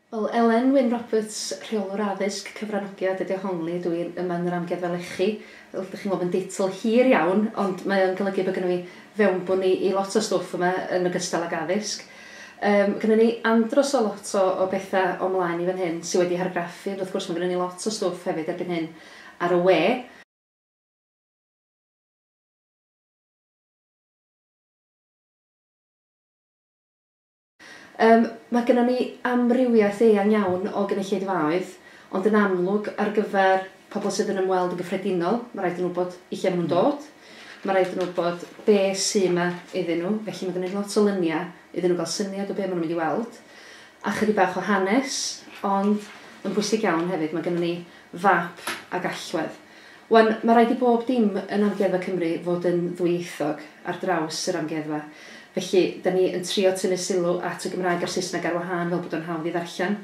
Wel, Elen Wyn Roberts, Rheolwr Addysg, Cyfranogiad ydi o, Hongli ydw i, yma yn yr Amgueddfa Lechi. Fel ydych chi'n gweld mae'n deitl hir iawn ond mae o'n golygu bod gynno fi fewnbwn i i lot o stwff yma yn ogystal ag addysg. Yym, gynnon ni andros o lot o o betha o mlaen i fan hyn sy wedi hargraffu, ond wrth gwrs ma' gynnon ni lot o stwff hefyd erbyn hyn ar y we. Yym, ma' gynnon ni amrywiaeth eang iawn o gynulleidfaoedd, ond yn amlwg ar gyfer Pobl sydd yn ymweld yn gyffredinol, mae rhaid iddyn nhw wybod i lle maen nhw'n dod, mae rhaid iddyn nhw wybod be sy yma iddyn nhw, felly mae gennym ni lot o luniau iddyn nhw gael syniad o be maen nhw'n mynd i weld, a chydig bach o hanes, ond yn bwysig iawn hefyd, mae gennym ni fap ag allwedd. Wan, mae rhaid i bob dim yn Amgueddfa Cymru fod yn ddwyieithog ar draws yr amgueddfa, felly, 'da ni yn trio tynnu sylw at y Gymraeg a'r Saesneg ar wahân fel bod o'n hawdd i ddarllen,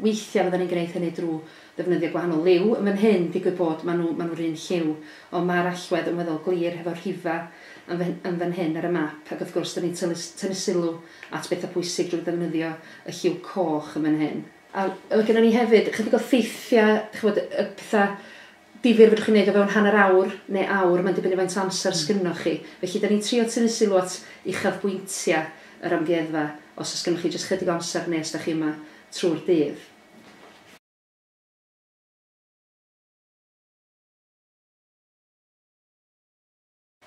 Weithiau fyddan ni'n gwneud hynny drwy ddefnyddio gwahanol liw. Yn fan hyn, digwydd bod, maen nhw, maen nhw'r un lliw. Ond mae'r allwedd yn weddol glir hefo'r rhifau yn fan, yn fan hyn ar y map, ac wrth gwrs, dan ni'n tynnu, tynnu sylw at bethau pwysig drwy ddefnyddio y lliw coch yn fan hyn. A mae gennyn ni hefyd ychydig o ffeithiau, chi'n gwybod, y pethau difyr fedrwch chi wneud o fewn hanner awr neu awr, mae'n dibynnu faint o amser sgynnoch chi. Felly dan ni'n trio tynnu sylw at uchafbwyntiau yr amgueddfa os oes gynnoch chi jyst chydig o amser neu os da chi yma trwy'r dydd.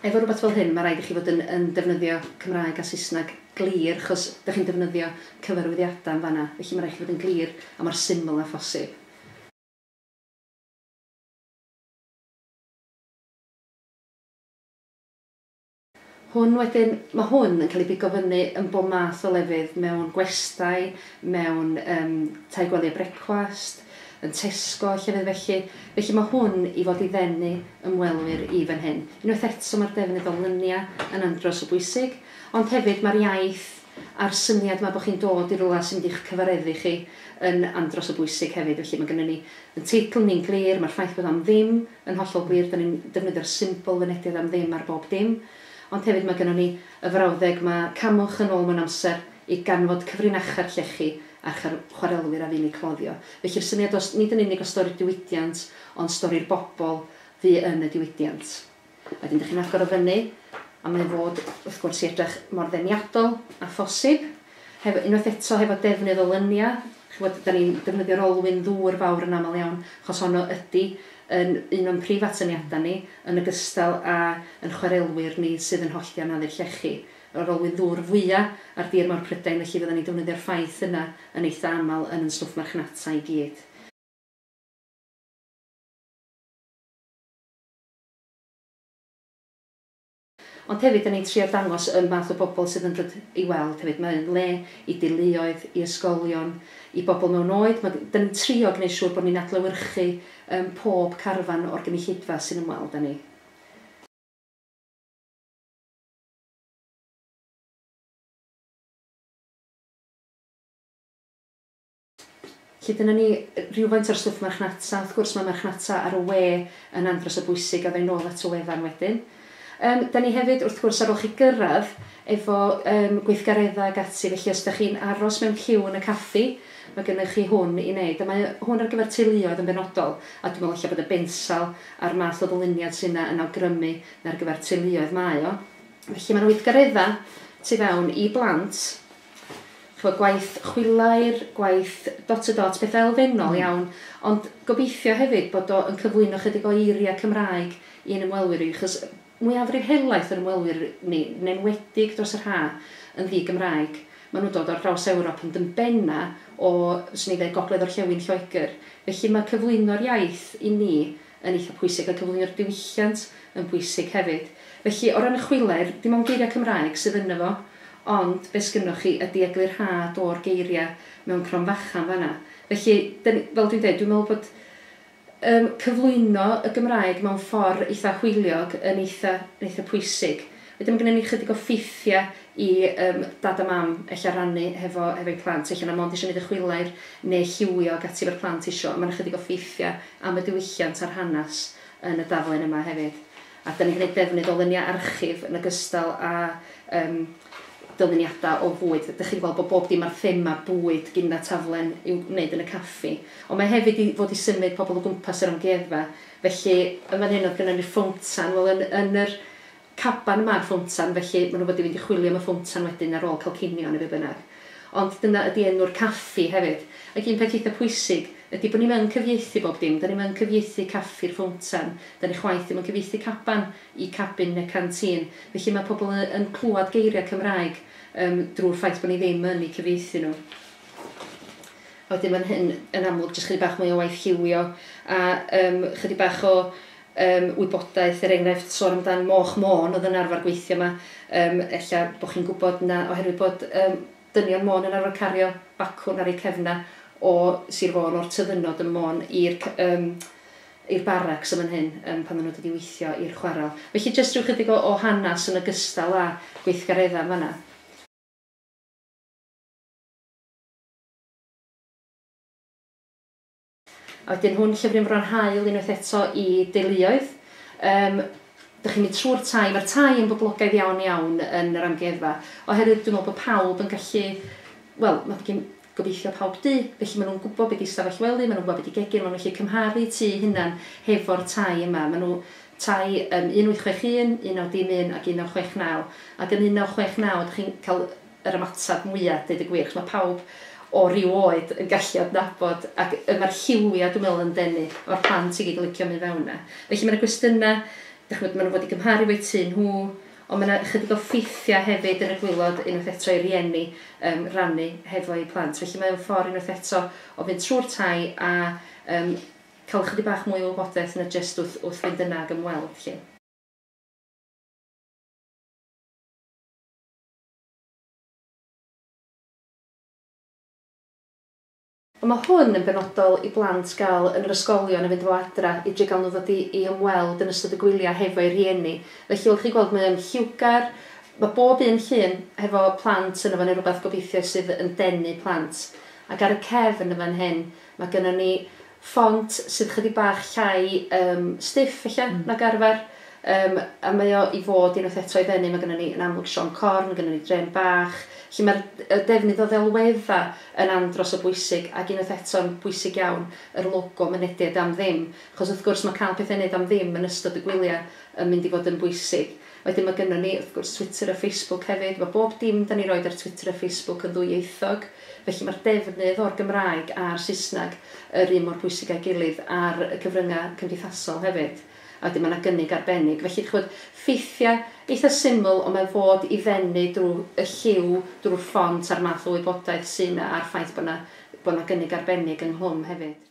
Efo rywbeth fel hyn mae rhaid i chi fod yn yn defnyddio Cymraeg a Saesneg glir achos da chi'n defnyddio cyfarwyddiadau yn fan'na felly mae rhaid i chi fod yn glir a mor syml â phosib. Hwn wedyn, mae hwn yn cael ei bigo fyny yn bob math o lefydd, mewn gwestai, mewn yym tai gwely a brecwast, yn Tesco a llefydd felly, felly mae hwn i fod i ddenu ymwelwyr i fan hyn. Unwaith eto, mae'r defnydd o luniau yn andros o bwysig, ond hefyd mae'r iaith, a'r syniad 'ma bod chi'n dod i rywle sy'n mynd i'ch cyfareddu chi yn andros o bwysig hefyd. Felly, mae gynnon ni yn teitl ni'n glir, mae'r ffaith bod 'am ddim' yn hollol glir, 'dan ni'n defnyddio'r symbol fynediad 'am ddim' ar bob dim. Ond hefyd mae gynnon ni y frawddeg 'ma, 'camwch yn ôl mewn amser i ganfod cyfrinachau'r llechi a'ch chwarelwyr a fu'n eu cloddio'. Felly'r syniad o... nid yn unig o stori'r diwydiant, ond stori'r bobl fu yn y diwydiant. A wedyn dych chi'n agor o fyny a mae fod wrth gwrs i edrych mor ddeniadol a phosib. Hefo, unwaith eto hefo defnydd o lyniau, chybod, da ni'n defnyddio'r olwyn ddŵr fawr yn aml iawn, achos honno ydy yn un o'n prif atyniadau ni, yn ogystal â yn chwarelwyr ni sydd yn hollti anafu'r llechi. Yr olwyn ddŵr fwya ar dir mawr Prydain, felly fyddan ni'n defnyddio'r ffaith yna yn eitha aml yn yn stwff marchnata i gyd. Ond hefyd 'da ni'n trio dangos y math o bobl sydd yn dod i weld hefyd. Mae o'n le i deuluoedd, i ysgolion, i bobl mewn oed. Ma'... 'da ni'n trio gneud siŵr bod ni'n adlewyrchu yym pob carfan o'r gynulleidfa sy'n ymweld â ni. Felly dyna ni rywfaint o'r stwff marchnata. Wrth gwrs mae marchnata ar y we yn anferth o bwysig a fydda i'n ôl at y wefan wedyn. Yym, 'da ni hefyd, wrth gwrs, ar ôl chi gyrraedd, efo yym gweithgareddau ac ati, felly os 'da chi'n aros mewn ciw yn y caffi, mae gennych chi hwn i wneud. A mae hwn ar gyfer teuluoedd yn benodol, a dwi'n meddwl ella bod y bensal a'r math o ddyluniad sy' 'na yn awgrymu mai ar gyfer teuluoedd mae o. Felly mae 'na weithgareddau tu fewn i blant, ch'mod gwaith chwilair, gwaith dot-to-dot, petha' elfennol iawn, ond gobeithio hefyd bod o yn cyflwyno chydig o eiria' Cymraeg i'n ymwelwyr ni, achos mwyafrif helaeth yr ymwelwyr ni, yn enwedig dros yr ha', yn ddi-Gymraeg. Ma' nhw'n dod ar draws Ewrop ond yn benna' o, fyswn i'n ddeud, gogledd-orllewin Lloegr. Felly ma' cyflwyno'r iaith i ni yn eitha pwysig a cyflwynio'r diwylliant yn bwysig hefyd. Felly, o ran y chwiler, dim ond geiriau Cymraeg sydd ynddo fo, ond be sgynnoch chi ydi eglurhad o'r geiriau mewn cromfachan fan'na. Felly, dan ni, fel dwi'n deud, dwi'n meddwl bod yym cyflwyno y Gymraeg mewn ffordd eitha hwyliog yn eitha, yn eitha pwysig. Wedyn ma' gynnon ni chydig o ffeithia i yym dad a mam ella rannu hefo hefo'u plant ella na mond isio neud y chwilair ne lliwio ag ati efo'r plant isio a ma' na chydig o ffeithia am y diwylliant a'r hanas yn y daflen yma hefyd. A dan ni'n gneud defnydd o lynia archif yn ogystal a yym dyluniada o fwyd. Dych chi di gweld bo bob dim ar thema bwyd gin na taflen i'w neud yn y caffi. Ond mae hefyd i fod i symud pobl o gwmpas yr amgueddfa felly yn fan hyn o'dd gynnon ni'r ffowmtan wel yn yn yr Caban ma'r ffowntan, felly ma' nhw wedi mynd i chwilio am y ffowntan wedyn ar ôl cael cinio neu be bynnag. Ond dyna ydi enw'r caffi hefyd. Ac un peth eitha pwysig ydi bod ni'm yn cyfieithu bob dim. 'Da ni'm yn cyfieithu caffi'r ffowntan. 'Da ni chwaith ddim yn cyfieithu caban i cabin neu canteen. Felly ma' pobl y- yn clwad geiriau Cymraeg yym drw'r ffaith bod ni ddim yn eu cyfieithu nhw. A wedyn ma'n hyn yn amlwg jyst chydig bach mwy o waith lliwio a yym chydig bach o Yym, wybodaeth, er enghraifft, sôn amdan Moch Môn oedd yn arfer gweithio 'ma. Yym, ella bod chi'n gwybod 'na oherwydd bod yym dynion Môn yn arfer cario bacwn ar eu cefnau o Sir Fôn, o'r Tyddynod ym Môn, i'r c- yym i'r barracs yn fan hyn yym pan oedden nhw'n dod i weithio i'r chwarel. Felly jyst rhyw chydig o o hanes yn ogystal â gweithgareddau yn fan'na. A wedyn hwn, llyfr yn fron hael unwaith eto i deuluoedd. Yym, dych chi'n mynd trwy'r tai, mae'r tai yn boblogaidd iawn iawn yn yr amgueddfa, oherwydd dwi'n meddwl bod pawb yn gallu, wel, mae gen, gobeithio, pawb dŷ, felly maen nhw'n gwybod be di ystafell wely, maen nhw'n gwybod be di gegin, maen nhw'n gallu cymharu tŷ eu hunain hefo'r tai yma. Maen nhw, tai yym 1861, 1961 ac 1969, ac yn 1969 dych chi'n cael, yr ymateb mwya, deud y gwir, achos mae pawb o ryw oed yn gallu adnabod, ac yy mae'r lliwia dwi'n meddwl yn denu, mae'r plant i gyd yn licio mynd fewn yna. Felly mae yna gwestiynau, dach ch'mod, maen nhw fod i gymharu efo'u tŷ nhw, ond mae yna ychydig o ffeithiau hefyd yn y gwaelod unwaith eto i rieni yym rannu hefo'u plant. Felly mae o'n ffordd unwaith eto o fynd trwy'r tai a yym cael ychydig bach mwy o wybodaeth na jyst wrth wrth fynd yna ag ymweld 'lly. Ond mae hwn yn benodol i blant gael yn yr ysgolion a fynd efo adra i drio gael nhw ddod i ymweld yn ystod y gwyliau hefo'u rhieni. Felly wrth chi gweld mae o'n lliwgar, mae bob un llun hefo plant yno fo neu rywbeth gobeithio sydd yn denu plant. Ac ar y cefn yn fan hyn mae gynnon ni ffont sydd chydig bach llai yym stiff ella nag arfer yym a mae o i fod unwaith eto i ddenu, mae gynnon ni yn amlwg siom corn, mae gynnon ni drên bach, felly mae'r y defnydd o ddelweddau yn andros o bwysig ac unwaith eto'n bwysig iawn yr logo mynediad am ddim achos wrth gwrs mae cael pethau i wneud am ddim yn ystod y gwyliau yn mynd i fod yn bwysig. Wedyn mae gynnon ni, wrth gwrs, Twitter a Facebook hefyd. Mae bob dim 'dan ni'n roid ar Twitter a Facebook yn ddwyieithog, felly mae'r defnydd o'r Gymraeg a'r Saesneg yr un mor bwysig â'i gilydd ar y cyfryngau cymdeithasol hefyd. A wedyn mae 'na gynnig arbennig. Felly, dach ch'mod, ffeithiau eitha syml, ond mae fod i ddenu drwy y lliw, drwy'r ffont a'r math o wybodaeth sy' 'na a'r ffaith bod 'na bod 'na gynnig arbennig ynghlwm hefyd.